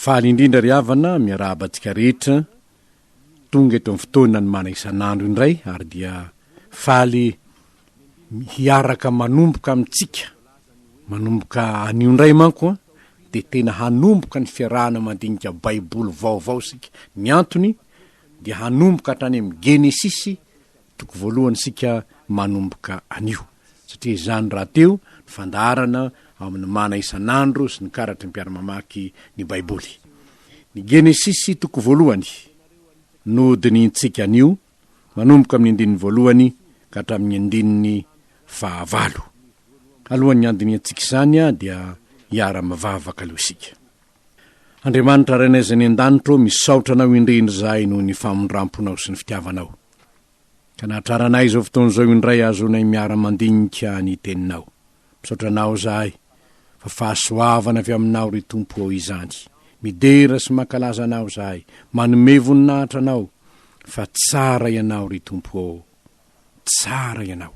Faly indrindra ry havana, miarahaba antsika rehetra, tonga eto amin'ny fotoana ny mana isan'andro indray ary dia faly hiaraka manomboka amintsika, manomboka anio indray manko an, dia tena hanomboka ny fiarahana mandinika baiboly vaovao isika, ny antony dia hanomboka hatrany amin'ny genesisy, Toko voalohany isika manomboka anio, satria izany rahateo ny fandaharana ao amin'ny Mana isan'andro sy ny karatry ny mpiara-mamaky ny Baiboly. Ny Genesisy toko voalohany no dinihintsika anio, manomboka amin'ny andininy voalohany ka hatramin'ny andininy fahavalo. Alohan'ny handinihantsika izany dia hiara-mivavaka aloha isika. Andriamanitra Rainay izay any an-danitra ô, misaotra Anao indrindra izahay noho ny famindram-ponao sy ny fitiavanao, ka nahatraranay izao fotoana izao indray ahazoanay miara-mandinika ny Teninao. Misaotra Anao izahay, fa fahasoavana avy Aminao, ry Tompo ô, izany. Midera sy mankalaza Anao izahay, manome voninahitra Anao, fa tsara Ianao, ry Tompo ô. Tsara ianao.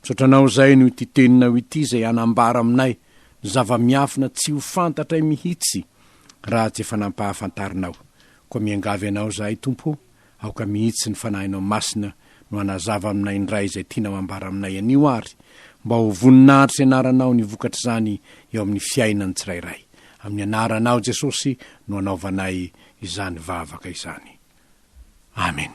Misaotra anao izay noho ity teninao ity izay hanambara aminay zava-miafina tsy ho fantatray mihitsy raha tsy efa nampahafantarinao. Koa miangavy anao izahay Tompo ô, aoka mihitsy ny Fanahinao Masina no hanazava aminay indray izay tianao hambara aminay anio ary mba ho voninahitry ny Anaranao ny vokatr'izany eo amin'ny fiainan'ny tsirairay. Amin'ny Anaranao Jesosy no anaovanay izany vavaka izany. Amen.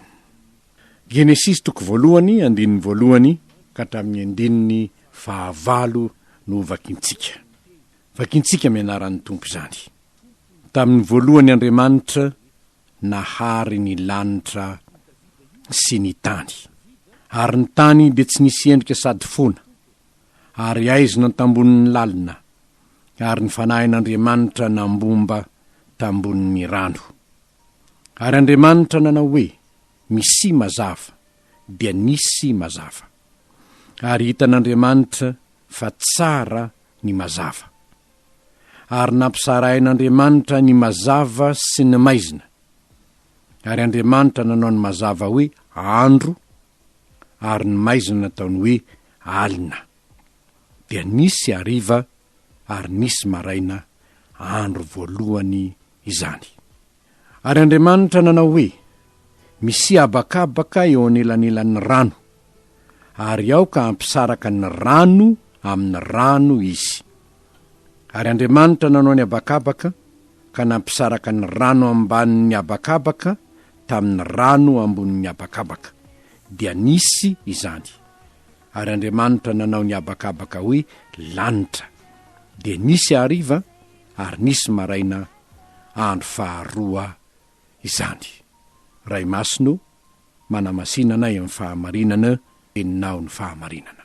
Genesisy toko voalohany andininy voalohany ka hatramin'ny andininy fahavalo no vakintsika. Vakintsika amin'ny anaran'ny Tompo izany. Tamin'ny voalohany Andriamanitra nahary ny lanitra sy ny tany. Ary ny tany dia tsy nisy endrika sady fona, ary aizina an-tambonin'ny lalina, ary ny Fanahin'Andriamanitra nambomba tambonin'ny rano. Ary Andriamanitra nanao hoe, Misia mazava, dia nisy mazava. Ary hitan'Andriamanitra fa tsara ny mazava. Ary nampisarahin'Andriamanitra ny mazava sy ny maizina. Ary Andriamanitra nanao ny mazava hoe andro, ary ny maizina nataony hoe alina. Dia nisy hariva ary nisy maraina andro voalohany izany. Ary Andriamanitra nanao hoe, Misia habakabaka eo anelanelan'ny rano, ary aoka hampisaraka ny rano amin'ny rano izy. Ary Andriamanitra nanao ny habakabaka ka nampisaraka ny rano ambanin'ny habakabaka tamin'ny rano ambonin'ny habakabaka, dia nisy izany. Ary Andriamanitra nanao ny habakabaka hoe lanitra. Dia nisy hariva, ary nisy maraina andro faharoa izany. Ray Masina o, manamasina anay amin'ny fahamarinana, enao ny fahamarinana.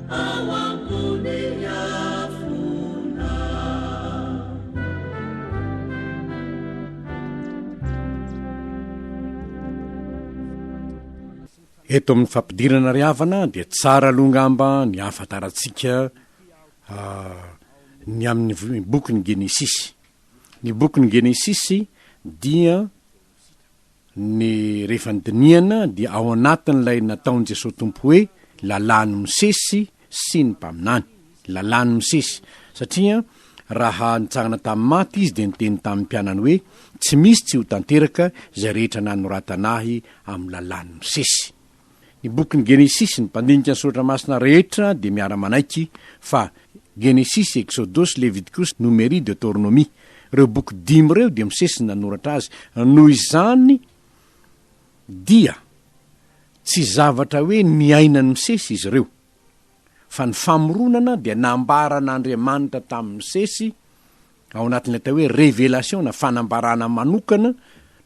ao ambony afona. Eto amin'ny fampidirana ry havana dia tsara aloha angamba ny hahafantarantsika ah, ny amin'ny v- ny bokin'ny Genesisy. Ny bokin'ny Genesisy dia ny rehefa ny dinihana dia ao anatin'ilay nataon'i Jesoa Tompo hoe lalàn'i Mosesy sy ny mpaminany. Lalàn'i Mosesy. Satria raha nitsangana tamin'ny maty Izy dia niteny tamin'ny mpianany hoe tsy misy tsy ho tanteraka izay rehetra nanoratana Ahy amin'ny lalàn'i Mosesy. Ny bokin'ny Genesisy, ny mpandinika ny Soratra Masina rehetra dia miara-manaiky fa Genesisy, Eksodosy, Levitikosy, Nomeria, Deoteronomia. Ireo boky dimy ireo dia Mosesy no nanoratra azy. Noho izany dia tsy zavatra hoe niainan'i Mosesy izy ireo, fa ny famoronana dia nambaran'Andriamanitra tamin'i Mosesy Ao anatin'ny atao hoe Revelation na fanambarana manokana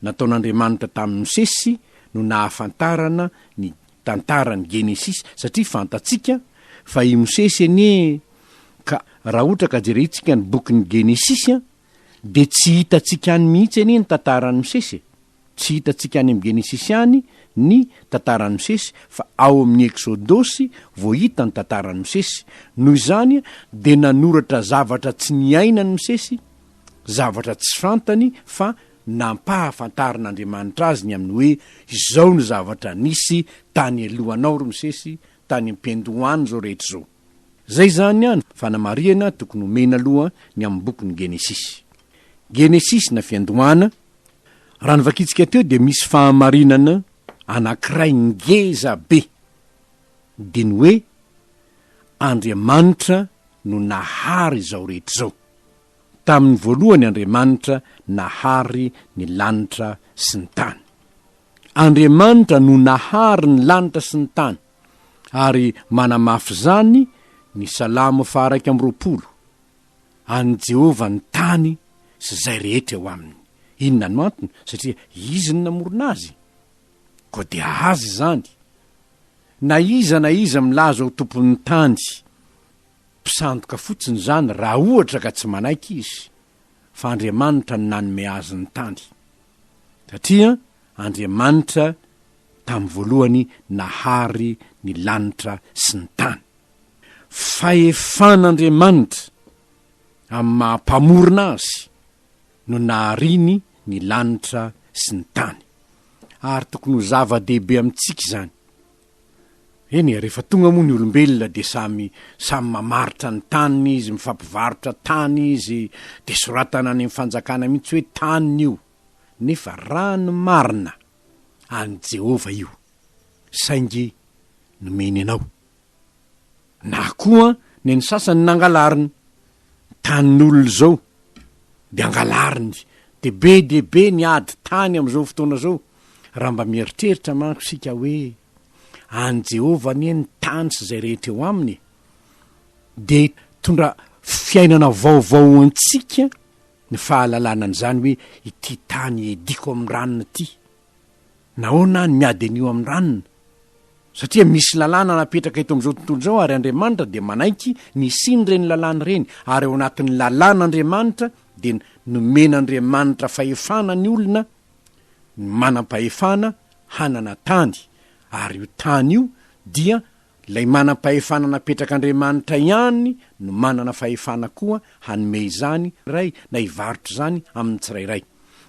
nataon'Andriamanitra tamin'i Mosesy no nahafantarana ny tantaran'ny Genesisy satria fantatsika fa i Mosesy anie ka raha ohatra ka jerentsika ny bokin'ny Genesisy dia tsy hitantsika any mihitsy anie ny tantaran'i Mosesy e! Tsy hitantsika any amin'ny Genesisy ihany ny tantaran'i Mosesy fa ao amin'ny Eksodosy vao hita ny tantaran'i Mosesy. Noho izany dia nanoratra zavatra tsy niainan'i Mosesy, zavatra tsy fantany fa nampahafantarin'Andriamanitra azy ny amin'ny hoe izao no zavatra nisy tany alohanao ry Mosesy, tany am-piandohan'izao rehetra izao. Zay zany an fanamarihana tokony omena aloha ny amin'ny bokin'ny Genesisy. Genesisy na fiandohana, raha novakintsika teo dia misy fahamarinana anankiray ngeza be, dia ny hoe Andriamanitra no nahary izao rehetra izao. Tamin'ny voalohany Andriamanitra nahary ny lanitra sy ny tany. Andriamanitra no nahary ny lanitra sy ny tany. ary manamafy izany ny Salamo faha iraika amby roapolo, An'i Jehovah ny tany sy izay rehetra eo aminy. Inona no antony? Satria izy no namorona azy. Koa dia azy izany. Na iza na iza milaza ho tompon'ny tany, mpisandoka fotsiny izany raha ohatra ka tsy manaiky izy. fa Andriamanitra no nanome azy ny tany, satria Andriamanitra tamin'ny voalohany nahary ny lanitra sy ny tany. Fahefan'Andriamanitra amin'ny maha Mpamorona azy no nahariany ny lanitra sy ny tany, ary tokony ho zava-dehibe amintsika izany, Eny e, rehefa tonga moa ny olombelona dia samy samy mamaritra ny taniny izy, mifampivarotra tany izy, dia soratana any amin'ny fanjakana mihitsy hoe taniny io, nefa raha ny marina, an'i Jehovah io, saingy nomeny anao. Na koa neny sasany nangalariny. Tanin'olona izao dia angalariny. Dia be dia be ny ady tany amin'izao fotoana izao. Raha mba mieritreritra manko isika hoe, an'i Jehovah anie ny tany sy izay rehetra eo aminy e! dia hitondra fiainana vaovao ho antsika ny fahalalana an'izany hoe ity tany iadiako amin'ny ranona ity. Nahoana aho no miady an'io amin'ny ranona? Satria misy lalàna napetraka eto amin'izao tontolo izao ary Andriamanitra dia manaiky ny hisian'ireny lalàna ireny ary ao anatin'ny lalàn'Andriamanitra dia nomen'Andriamanitra fahefana ny olona ny manam-pahefana hanana tany ary io tany io dia Ilay manam-pahefana napetrak'Andriamanitra ihany no manana fahefana koa hanome izany iray na hivarotra izany amin'ny tsirairay.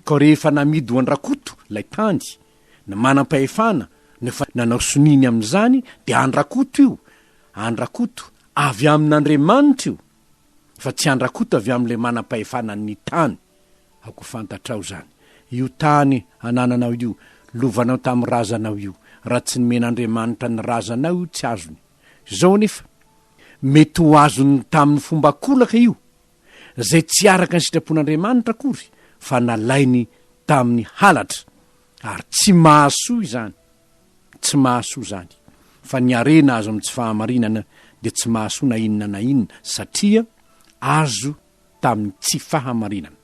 Koa rehefa namidy ho an-dRakoto ilay tany, ny manam-pahefana no efa nanao soniany amin'izany dia an-dRakoto io, an-dRakoto, avy amin'Andriamanitra io. fa tsy andrakota avy amin'ilay manam-pahefana ny tany, aoka fantatrao izany, io tany anananao io, lovanao tamin'ny razanao io, raha tsy nomen'Andriamanitra ny razanao io tsy azony. Izao anefa, mety ho azony tamin'ny fomba an-kolaka io, izay tsy araka ny sitrapon'Andriamanitra akory, fa nalainy tamin'ny halatra, Ary tsy mahasoa izany, tsy mahasoa izany, fa ny harena azo amin'ny tsy fahamarinana dia tsy mahasoa na inona na inona, satria azo tamin'ny tsy fahamarinana.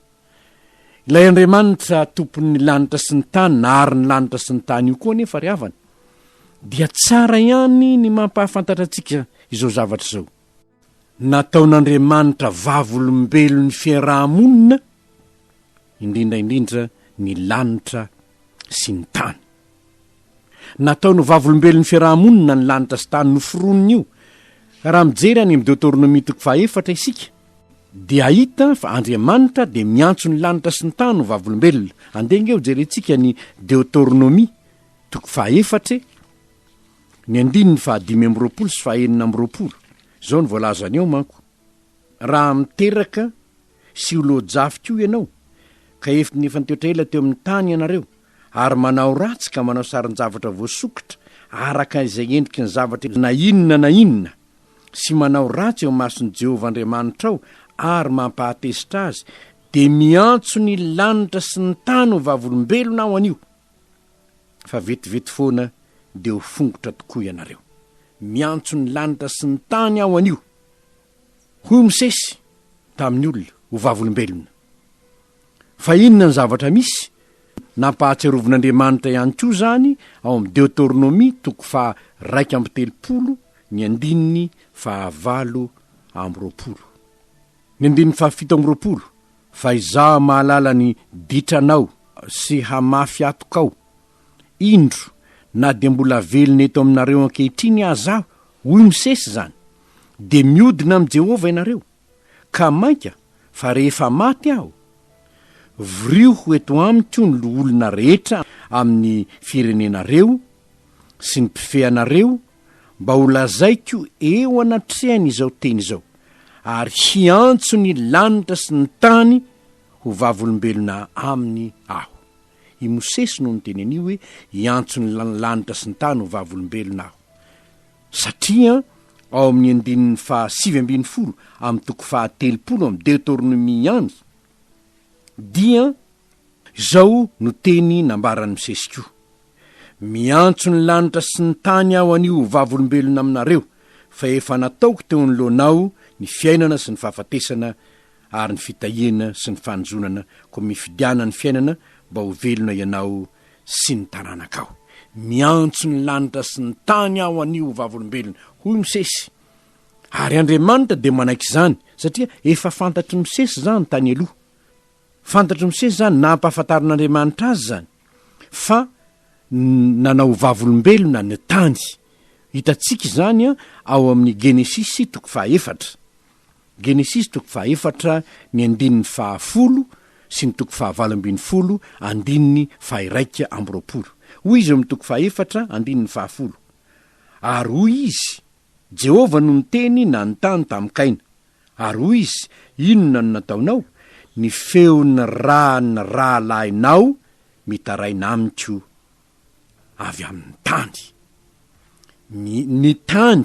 Ilay Andriamanitra Tompon'ny lanitra sy ny tany, nahary ny lanitra sy ny tany io koa anefa, ry havana, dia tsara ihany ny mampahafantatra antsika izao zavatra izao. Nataon'Andriamanitra vavolombelon'ny fiaraha-monina, indrindra indrindra ny lanitra sy ny tany. Nataony ho vavolombelon'ny fiaraha-monina ny lanitra sy tany noforonon'io. Raha mijery any amin'ny Deoteronomia toko fahaefatra isika, dia hahita fa Andriamanitra dia miantso ny lanitra sy ny tany ho vavolombelona. Andeha ange hojerentsika ny Deoteronomia toko fahaefatra e! Ny andininy fahadimy amby roapolo sy fahaenina amby roapolo, izao no voalazany ao manko, Raha miteraka sy ho loa-jafy koa ianao, ka efn efa nitoetra ela teo amin'ny tany ianareo, ary manao ratsy ka manao sarin-javatra voasokitra araka izay endriky ny zavatra na inona na inona, sy manao ratsy eo imason'i Jehovah Andriamanitrao ary mampahatezitra azy, dia miantso ny lanitra sy ny tany ho vavolombelona aho anio. fa vetivety foana dia ho fongotra tokoa ianareo. Miantso ny lanitra sy ny tany aho anio. Hoy Mosesy tamin'ny olona, O vavolombelona, fa inona ny zavatra misy? Nampahatsiarovin'Andriamanitra ihany koa izany ao amin'ny Deoteronomia toko faha iraika amby telopolo ny andininy faha valo amby roapolo. Ny andininy faha fito amby roapolo Fa Izaho mahalala ny ditranao sy hamafy atokao. Indro, na dia mbola velona eto aminareo ankehitriny aza Aho, hoy Mosesy izany, dia miodina amin'i Jehovah ianareo, ka mainka fa rehefa maty aho, voriho eto amiko ny loholona rehetra amin'ny firenenareo sy ny mpifehy anareo, mba ho lazaiko eo anatrehany izao teny izao, ary hiantso ny lanitra sy ny tany ho vavolombelona aminy aho. I Mosesy no niteny an'io hoe hiantso ny lanitra sy ny tany ho vavolombelona aho. Satria ao amin'ny andininy fahasivy ambin'ny folo amin'ny toko fahatelopolo amin'ny Deoteronomia ihany dia Izao no teny nambaran'i Mosesy koa, Miantso ny lanitra sy ny tany aho anio ho vavolombelona aminareo, fa efa nataoko teo anoloanao ny fiainana sy ny fahafatesana ary ny fitahiana sy ny fanozonana, koa mifidiana ny fiainana mba ho velona ianao sy ny taranakao. Miantso ny lanitra sy ny tany aho anio ho vavolombelona, hoy i Mosesy. Ary Andriamanitra dia manaiky izany, satria efa fantatr'i Mosesy izany tany aloha. Fantatro misesy izany na ampahafantarin'Andriamanitra azy izany fa nanao ho vavolombelona ny tany. Hitantsika izany ao amin'ny Genesisy toko fahaefatra. Genesisy toko fahaefatra ny andininy fahafolo sy ny toko fahavalo ambin'ny folo andininy fahiraika amby roapolo. Hoy izy eo amin'ny toko fahaefatra andininy fahafolo, Ary hoy izy, Jehovah no niteny nanontany tamin'i Kaina. Ary hoy izy, Inona no nataonao? Ny feon'ny ran'ny rahalahinao mitaraina amiko avy amin'ny tany. Ny, ny tany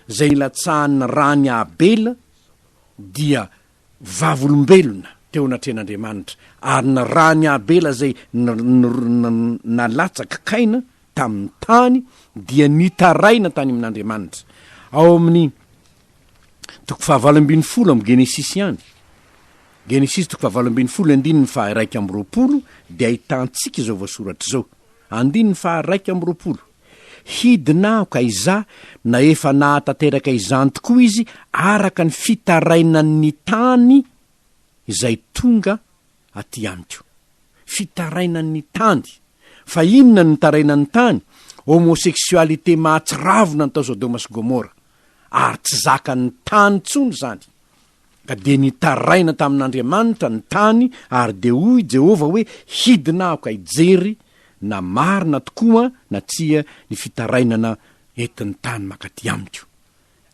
izay nilatsahan'ny ran'i Abela dia vavolombelona teo anatrehan'Andriamanitra, ary nirahany Abela izay nalatsak' kaina tamin'ny tany, dia nitaraina tany amin'Andriamanitra. Ao amin'ny toko fahavalo ambin'ny folo amin'ny Genesisy ihany, Genesisy toko fahavalo ambin'ny folo andininy faha iraika amby roapolo, dia ahitantsika izao voasoratra izao, andininy faha iraika amby roapolo. Hidina aho ka izaho na efa nahatanteraka izany tokoa izy araka ny fitarainany ny tany izay tonga aty amiko. Fitarainany ny tany! Fa inona no nitarainany ny tany? Homosexualité mahatsiravina ny tao Sodoma sy Gomora. Ary tsy zakan'ny tany intsony izany. Ka dia nitaraina tamin'Andriamanitra ny tany, ary dia hoy i Jehovah hoe, Hidina aho ka hijery na marina tokoa na tsia ny fitarainana entin'ny tany mankaty amiko.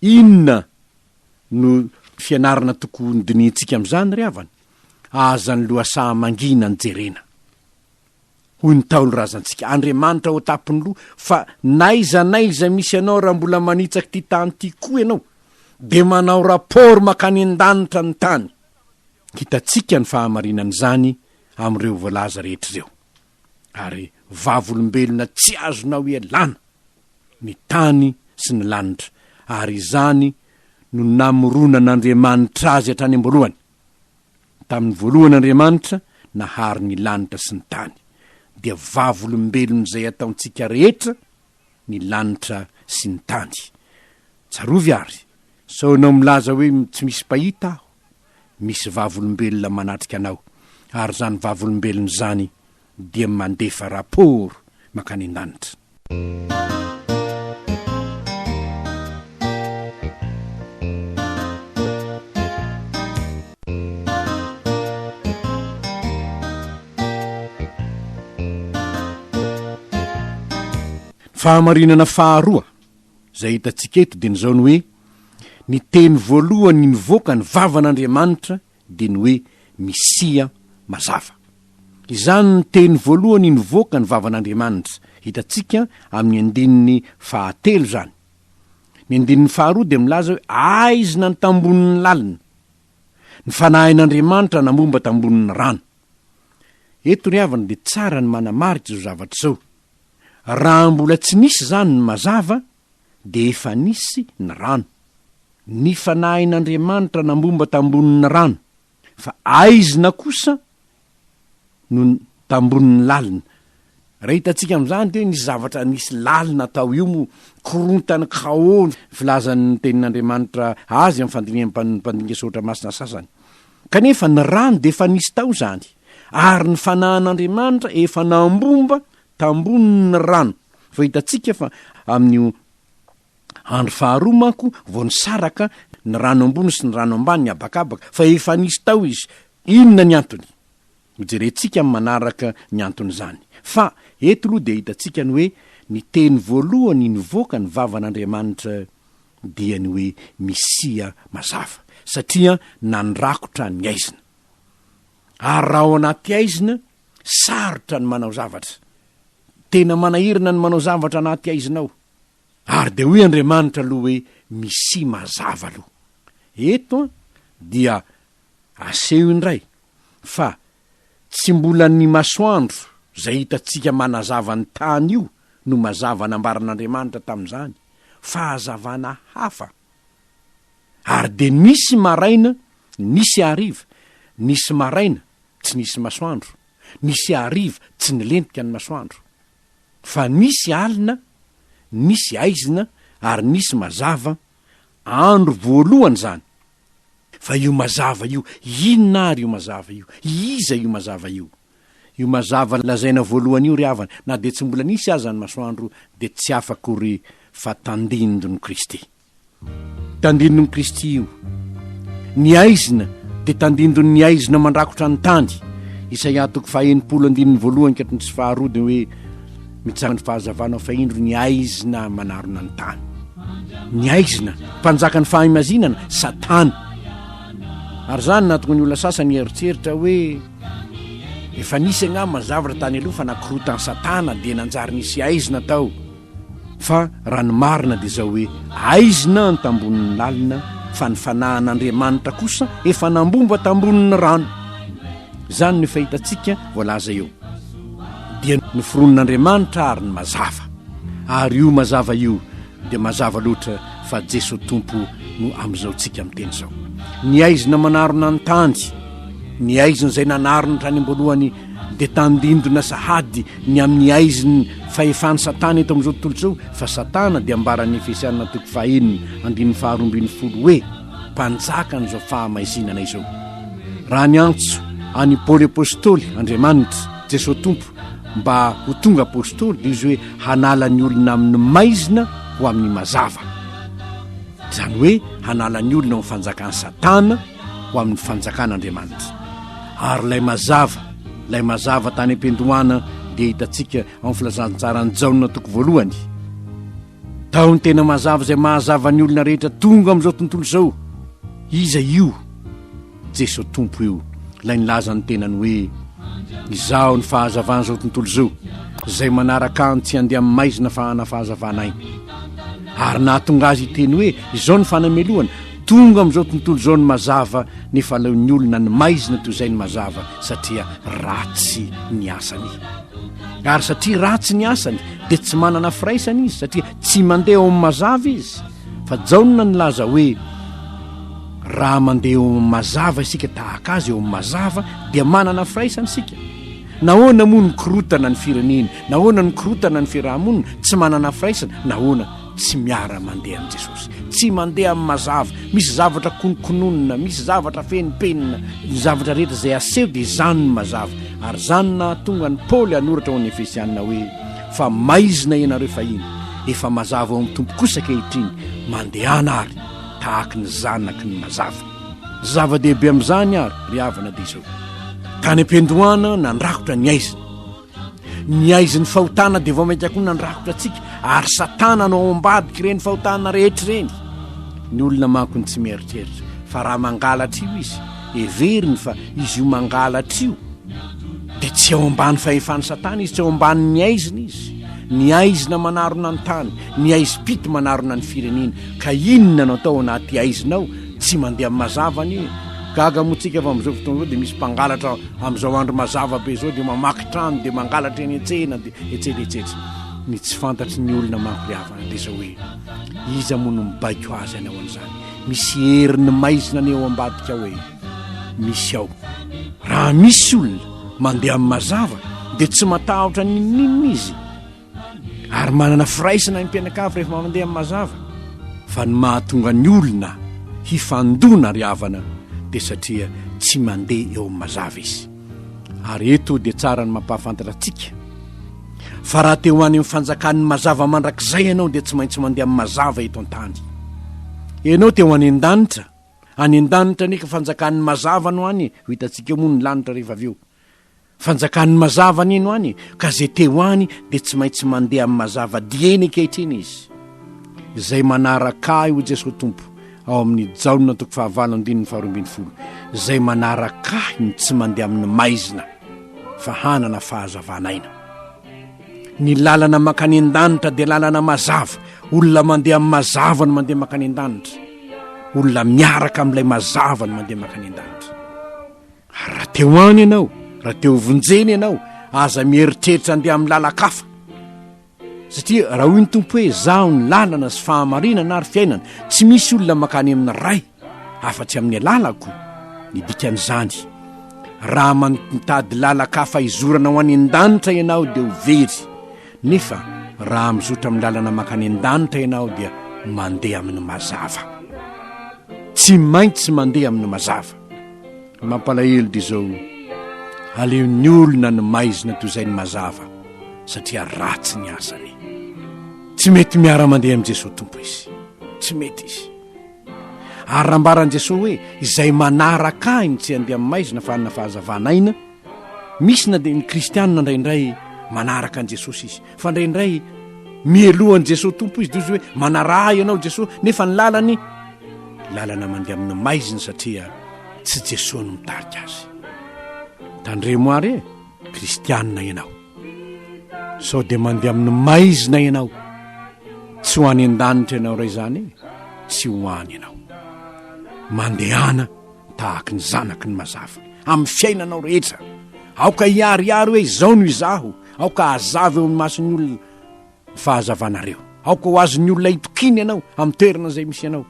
Inona no fianarana tokony hodinihintsika amin'izany ry havana? Aza ny lohasaha mangina no jerena. Hoy ny Ntaolo razantsika, Andriamanitra ao an-tampon'ny loha, fa n'aiza n'aiza misy anao raha mbola manitsaka ity tany ity koa ianao, dia manao rapport mankany an-danitra ny tany. Hitantsika ny fahamarinan'izany amin'ireo voalaza rehetra ireo. Ary vavolombelona tsy azonao ialana ny tany sy ny lanitra, ary izany no namoronan'Andriamanitra azy hatrany am-boalohany. Tamin'ny voalohany Andriamanitra nahary ny lanitra sy ny tany, dia vavolombelon'izay ataontsika rehetra ny lanitra sy ny tany. Tsarovy àry, sao ianao milaza hoe tsy misy mpahita aho. Misy vavolombelona manatrika anao, ary izany vavolombelona izany dia mandefa rapport mankany an-danitra. Ny fahamarinana faharoa izay hitantsika eto dia ny izao ny hoe, ny teny voalohany nivoaka ny vavan'Andriamanitra dia ny hoe Misia mazava. Izany no teny voalohany nivoaka ny vavan'Andriamanitra, hitantsika amin'ny andininy fahatelo izany. Ny andininy faharoa dia milaza hoe aizina ny tambonin'ny lalina, ny fanahin'Andriamanitra namomba tambonin'ny rano. Eto ry havana dia tsara ny manamarika izao zavatra izao, raha mbola tsy nisy izany ny mazava dia efa nisy ny rano. Ny fanahin'Andriamanitra nambomba tambonin'ny rano, fa aizina kosa no tambonin'ny lalina. Raha hitantsika amin'izany dia nisy zavatra nisy lalina tao io moa, korontana Khao ny filazan'ny tenin'Andriamanitra azy amin'ny fandinihan'ny mpandinika soratra masina sasany. Kanefa ny rano dia efa nisy tao izany, ary ny fanahin'Andriamanitra efa nambomba tambonin'ny rano fa hitantsika fa amin'io andro faharoa manko vao nisaraka ny rano ambony sy ny rano ambany ny abakabaka fa efa nisy tao izy inona ny antony hojerentsika amin'ny manaraka ny anton'izany fa eto aloha dia hitantsika ny hoe ny teny voalohany nivoaka ny vavan'andriamanitra dia ny hoe misia mazava satria nandrakotra ny aizina ary raha ao anaty aizina Sarotra ny manao zavatra. Tena manahirana ny manao zavatra anaty aizina ao. Ary dia hoy Andriamanitra aloha hoe misia mazava aloha. Eto dia aseho indray fa tsy mbola ny masoandro izay hitantsika manazava ny tany io no mazava nambaran'Andriamanitra tamin'izany fa hazavana hafa. Ary dia nisy maraina, nisy hariva, nisy maraina, tsy nisy masoandro, nisy hariva tsy nilentika ny masoandro. Fa nisy alina, nisy haizina ary nisy mazava, andro voalohany izany. Fa io mazava io, inona ary io mazava io? Iza io mazava io? Io mazava lazaina voalohany io ry havana, na dia tsy mbola nisy aza ny masoandro, dia tsy hafa akory fa tandindon'i Kristy. Tandindon'i Kristy io. Ny aizina dia tandindon'ny aizina mandrakotra ny tany. Isaia toko faha-enimpolo andininy voalohany ka hatramin'ny sy faharoa dia hoe mitsangan ny fahazavana fa indro ny aizina manarona ny tany. Ny aizina, mpanjaka ny fahimazinana, Satana. Ary izany nahatonga ny olona sasany hieritreritra hoe efa nisy angamba ny zavatra tany aloha fa nakorotan'i Satana dia nanjary nisy aizina tao. Fa raha ny marina dia izao hoe, aizina ny tambonin'ny lalina fa ny fanahin'Andriamanitra kosa efa nambomba tambonin'ny rano. Izany no efa hitantsika voalaza eo. Dia noforonin'Andriamanitra ary ny mazava. Ary io mazava io dia mazava loatra fa Jesoa Tompo no amin'izao tsika miteny izao. Ny aizina manarona ny tany, ny aizina izay nanarona hatrany am-boalohany, dia tandindona sahady ny amin'ny haiziny fahefan'i Satana eto amin'izao tontolo izao, fa Satana dia ambaran'ny Efesiana toko fahaenina andininy faharoa ambin'ny folo hoe mpanjakan'izao fahamaizinana izao. Raha niantso an'i Paoly Apostoly Andriamanitra, Jesoa Tompo, mba ho tonga Apostoly dia izy hoe hanala ny olona amin'ny maizina ho amin'ny mazava, izany hoe hanala ny olona ao amin'ny fanjakan'i Satana, ho amin'ny fanjakan'Andriamanitra. Ary ilay mazava, ilay mazava tany am-piandohana dia hitantsika ao amin'ny filazantsaran'i Jaona toko voalohany. Tao ny tena mazava izay mahazava ny olona rehetra tonga amin'izao tontolo izao. Iza io? Jesoa Tompo io, ilay nilaza ny tenany hoe Izaho ny fahazavan'izao tontolo izao, izay manaraka ahy tsy handeha amin'ny maizina fa hanana fahazavana aina. Ary nahatonga azy hiteny hoe izao ny fanamelohana, Tonga amin'izao tontolo izao ny mazava nefa aleon'ny olona ny maizina toy izay ny mazava satria ratsy ny asany. Ary satria ratsy ny asany dia tsy manana firaisana izy satria tsy mandeha ao amin'ny mazava izy fa jaona nilaza hoe raha mandeha eo amin'ny mazava isika tahaka azy eo amin'ny mazava dia manana firaisana isika. Nahoana moa ny korotana ny fireneny? Nahoana ny korotana ny fiarahamonina? Tsy manana firaisana. Nahoana? Tsy miara-mandeha amin'i Jesosy. Tsy mandeha amin'ny mazava. Misy zavatra konokononina, misy zavatra fenimpenina. Ny zavatra rehetra izay aseho dia izany no mazava. Ary izany no nahatonga an'i Paoly hanoratra ho an'ny Efesianina hoe, Fa maizina ianareo fahiny, efa mazava ao amin'ny Tompo kosa ankehitriny, mandehana àry tahaka ny zanaky ny mazava. Zava-dehibe amin'izany àry, ry havana, dia izao, Tany am-piandohana nandrakotra ny aizina. ny aizin'ny fahotana dia vao mainka koa nandrakotra antsika ary satana no ao ambadika ireny fahotana rehetra ireny ny olona manko ny tsy mieritreritra fa raha mangalatra io izy everiny fa izy io mangalatra io dia tsy ao ambany fahefan'ny satana izy tsy ao amban'ny aizina izy ny aizina manarona ny tany ny aizim-pito manarona ny firenena ka inona no atao anaty aizinao Tsy mandeha amin'ny mazava anie. Gaga moa tsika fa amin'izao fotoana izao dia misy mpangalatra amin'izao andro mazava be izao dia mamaky trano dia mangalatra eny an-tsena dia etsetra etsetra. Ny tsy fantatry ny olona manko ry havana dia izao hoe iza moa no mibaiko azy any ao an'izany. Misy herin'ny maizina anie ao ambadika ao e. Misy ao. Raha misy olona mandeha amin'ny mazava dia tsy matahotra n'inon'inona izy. ary manana firaisana ny mpianakavy rehefa mandeha amin'ny mazava fa ny mahatonga ny olona hifandona ry havana dia satria tsy mandeha eo amin'ny mazava izy ary eto dia tsara ny mampahafantatra antsika fa raha te ho any amin'ny fanjakan'ny mazava mandrakizay ianao dia tsy maintsy mandeha amin'ny mazava eto an-tany ianao te ho any an-danitra any an-danitra neka fanjakan'ny mazava no any ho hitantsika moa ny lanitra rehefa avy eo Fanjakan'ny mazava nino any e, ka izay te ho any dia tsy maintsy mandeha amin'ny mazava dieny ankehitriny izy. Izay manaraka Ahy, hoy Jesoa Tompo, ao amin'ny Jaona toko fahavalo andininy faharoa ambin'ny folo, izay manaraka Ahy no tsy mandeha amin'ny maizina, fa hanana fahazavan'aina. Ny lalana mankany an-danitra dia lalana mazava, olona mandeha amin'ny mazava no mandeha mankany an-danitra, olona miaraka amin'ilay mazava no mandeha mankany an-danitra. Ary raha te ho any ianao, raha te ho vonjena ianao, aza mieritreritra handeha amin'ny lalan-kafa. Satria raha hoy ny Tompo hoe izaho ny lalana sy fahamarinana ary fiainana, tsy misy olona mankany amin'ny Ray afa-tsy amin'ny alalako. Ny dikan'izany, raha mitady lalan-kafa hizorana ho any an-danitra ianao dia ho very, nefa raha mizotra amin'ny lalana mankany an-danitra ianao dia mandeha amin'ny mazava. Tsy maintsy mandeha amin'ny mazava. Mampalahelo dia izao, aleon'ny olona ny maizina toy izay ny mazava satria ratsy ny asany. Tsy mety miara-mandeha amin'i Jesoa Tompo izy. Tsy mety izy. Ary rambaran'i Jesoa hoe izay manaraka ahy no tsy handeha amin'ny maizina fa hanana fahazavana aina, Misy na dia ny kristianina indraindray manaraka an'i Jesosy izy, fa indraindray mialoha an'i Jesosy Tompo izy, dia izy hoe manaraha ianao Jesosy, nefa ny lalany lalana mandeha amin'ny maizina satria tsy Jesosy no mitarika azy. Tandremo ary e, kristianina ianao, sao dia mandeha amin'ny maizina ianao, tsy ho any an-danitra ianao ray izany e, tsy ho any ianao. Mandehana. tahaka ny zanaky ny mazava amin'ny fiainanao rehetra aoka hiariary hoe izao no izaho aoka hazava eo amin'ny mason'ny olona ny fahazavanareo aoka ho azon'ny olona hitokiana ianao amin'ny toerana izay misy ianao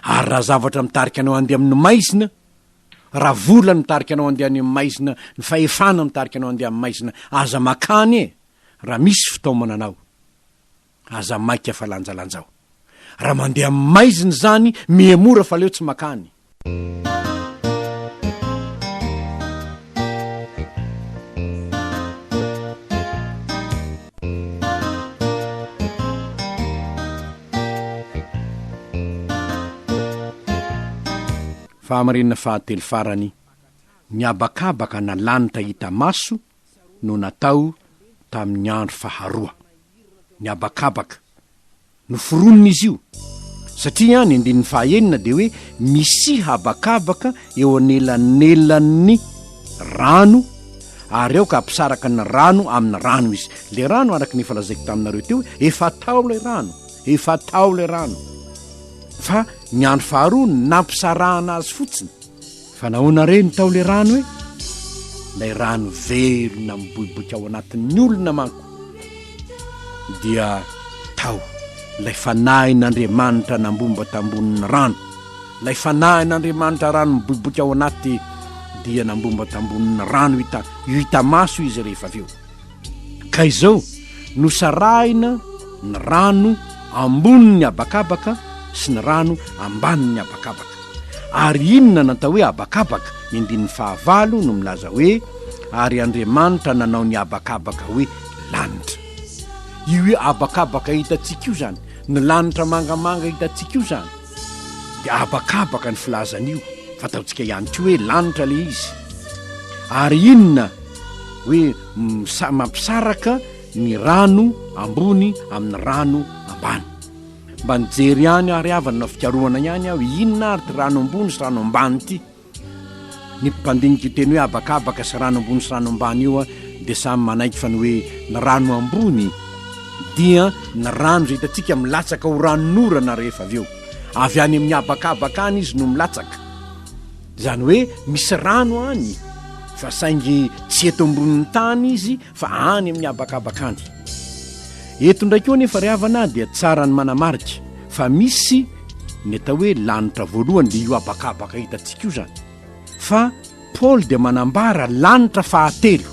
ary raha zavatra mitarika anao andeha amin'ny maizina raha vola mitarika anao andeha any amin'ny maizina ny fahefana mitarika anao andeha amin'ny maizina aza makany e raha misy fitaomana anao Aza maika fa lanjalanjao. Raha mandeha amin'ny maizina izany, mihemora fa leo tsy makany. Fahamarinana fahatelo farany, ny habakabaka na lanitra hita maso no natao tamin'ny andro faharoa. ny habakabaka. Noforonina izy io, satria ny andininy fahaenina dia hoe misia habakabaka eo anelanelan'ny rano ary aoka hampisaraka ny rano amin'ny rano izy. Ilay rano, araka ny efa lazaiko taminareo teo, efa tao ilay rano, efa tao ilay rano, fa ny andro faharoa nampisarahana azy fotsiny. Fa nahoana re ny tao le rano e? Ilay rano velona miboiboika ao anatin'ny olona manko dia tao ilay fanahin'Andriamanitra nambomba tambonin'ny rano, ilay fanahin'Andriamanitra rano miboiboika ao anaty dia nambomba tambonin'ny rano hita hita maso izy rehefa avy eo. Ka izao, nosarahina ny rano ambonin'ny habakabaka sy ny rano ambanin'ny habakabaka. Ary inona no atao hoe habakabaka? Ny andininy fahavalo no milaza hoe, Ary Andriamanitra nanao ny habakabaka hoe lanitra. Io habakabaka hitantsika io izany, ny lanitra mangamanga hitantsika io izany. dia habakabaka ny filazan'io fataontsika ihany ko hoe lanitra le izy ary inona hoe mampisaraka ny rano ambony amin'ny rano ambany mba nijery ihany ary havana fikarohana ihany aho inona ary ty rano ambony sy rano ambany ity Ny mpandinika io teny hoe habakabaka sy rano ambony sy rano ambany io dia samy manaiky fa ny hoe ny rano ambony dia ny rano izay hitantsika milatsaka ho ranon'orana rehefa avy eo. Avy any amin'ny habakabaka any izy no milatsaka. Izany hoe misy rano any fa saingy tsy eto ambonin'ny tany izy fa any amin'ny habakabaka any. Eto indray koa anefa ry havana dia tsara ny manamarika fa misy ny atao hoe lanitra voalohany dia io habakabaka hitantsika io izany fa Paoly dia manambara lanitra fahatelo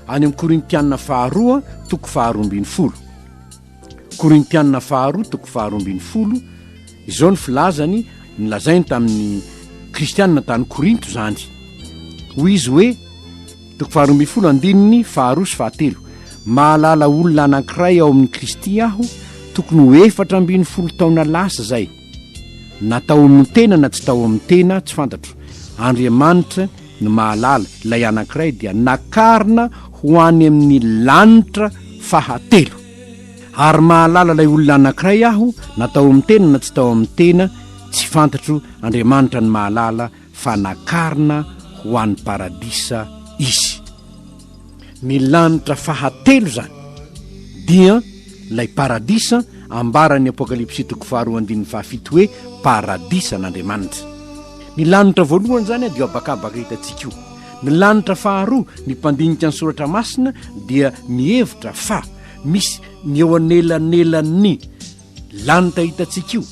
any amin'ny Korintiana faharoa toko faharoa ambin'ny folo Korintiana faharoa toko faharoa ambin'ny folo, izao no filazany, nolazainy tamin'ny kristiana tany Korinto izany, hoy izy hoe, toko faharoa ambin'ny folo andininy faharoa sy fahatelo, Mahalala olona anankiray ao amin'i Kristy aho, tokony ho efatra ambin'ny folo taona lasa izay, Na tao amin'ny tena na tsy tao amin'ny tena, tsy fantatro, Andriamanitra no mahalala, ilay anankiray dia nakarina ho any amin'ny lanitra fahatelo. Ary mahalala ilay olona anankiray aho, na tao amin'ny tena na tsy tao amin'ny tena, tsy fantatro, Andriamanitra no mahalala, fa nakarina ho any paradisa izy. Ny lanitra fahatelo izany dia ilay paradisa ambaran'ny Apokalypsy toko faharoa andininy fahafito hoe paradisan'Andriamanitra. Ny lanitra voalohany izany dia habakabaka hitantsika io. Ny lanitra faharoa ny mpandinika ny soratra masina dia mihevitra fa misy ny eo anelanelan'ny Lanitra hitantsika io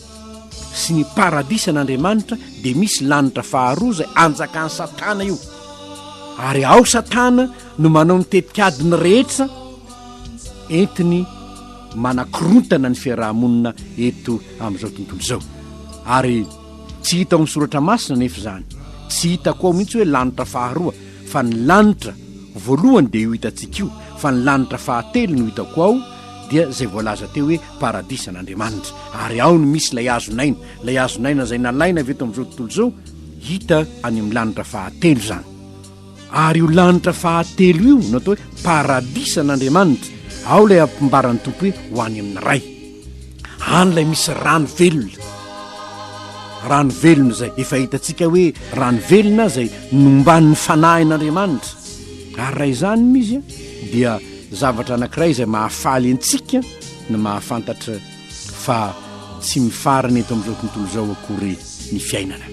sy ny paradisan'Andriamanitra dia misy lanitra faharoa izay anjakan'i Satana io, ary ao Satana no manao ny tetikadiny rehetra entiny manakorontana ny fiaraha-monina eto amin'izao tontolo izao, ary tsy hita ao amin'ny soratra masina anefa izany, tsy hitako ao mihitsy hoe lanitra faharoa fa ny lanitra voalohany dia io hitantsika io, fa ny lanitra fahatelo no hitako ao, dia izay voalaza teo hoe paradisan'Andriamanitra, ary ao no misy ilay hazon'aina, ilay hazon'aina izay nalaina avy eto amin'izao tontolo izao, hita any amin'ny lanitra fahatelo izany. Ary io lanitra fahatelo io no atao hoe paradisan'Andriamanitra, ao ilay ampimbaran'ny Tompo hoe ho any amin'ny Ray. Any ilay misy rano velona, rano velona izay efa hitantsika hoe rano velona izay nomban'ny fanahin'Andriamanitra. Ary raha izany no izy dia Zavatra anankiray izay mahafaly antsika ny mahafantatra fa tsy mifarana eto amin'izao tontolo izao akory ny fiainana,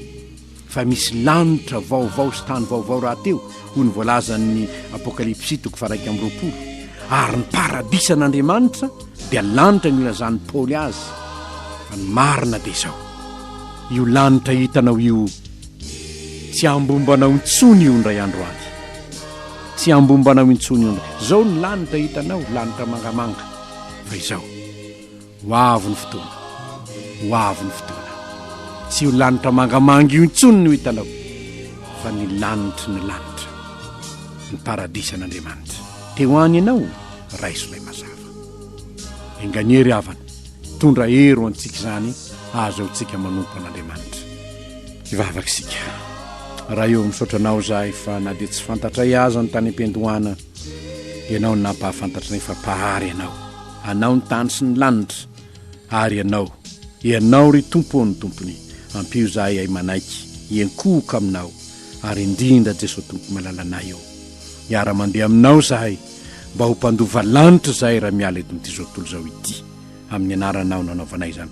fa misy lanitra vaovao sy tany vaovao rahateo, hoy ny voalazan'ny Apokalypsy toko faharaika amby roapolo, ary ny paradisa an'Andriamanitra dia lanitra nilazan'i Paoly azy fa ny marina dia izao, io lanitra hitanao io Tsy hambomba anao intsony io indray andro any. Tsy hambomba anao intsony io indray. Izao ny lanitra hitanao, lanitra mangamanga. Fa izao, ho avy ny fotoana, ho avy ny fotoana. Tsy io lanitra mangamanga io intsony no hitanao, fa ny lanitry ny lanitra, ny paradisan'Andriamanitra. Te ho any ianao? Raiso ilay mazava. Enga ny hery havana, tondra hery ho antsika izany, ahazoantsika manompo an'Andriamanitra. Hivavaka isika. Ray ô, misaotra Anao izahay fa na dia tsy fantatray aza ny tany am-piandohana, Ianao no nampahafantatra anay fa Mpahary Ianao. Anao ny tany sy ny lanitra, ary Ianao, Ianao, ry Tompo ô, no Tompony. Ampio izahay hihay manaiky, hiankohoka Aminao, ary indrindra, Jesoa Tompo malalanay ô, hiara-mandeha Aminao izahay, mba ho mpandova lanitra izahay raha miala eto amin'ity zao tontolo izao ity. amin'ny anaranao nanaovanay izany.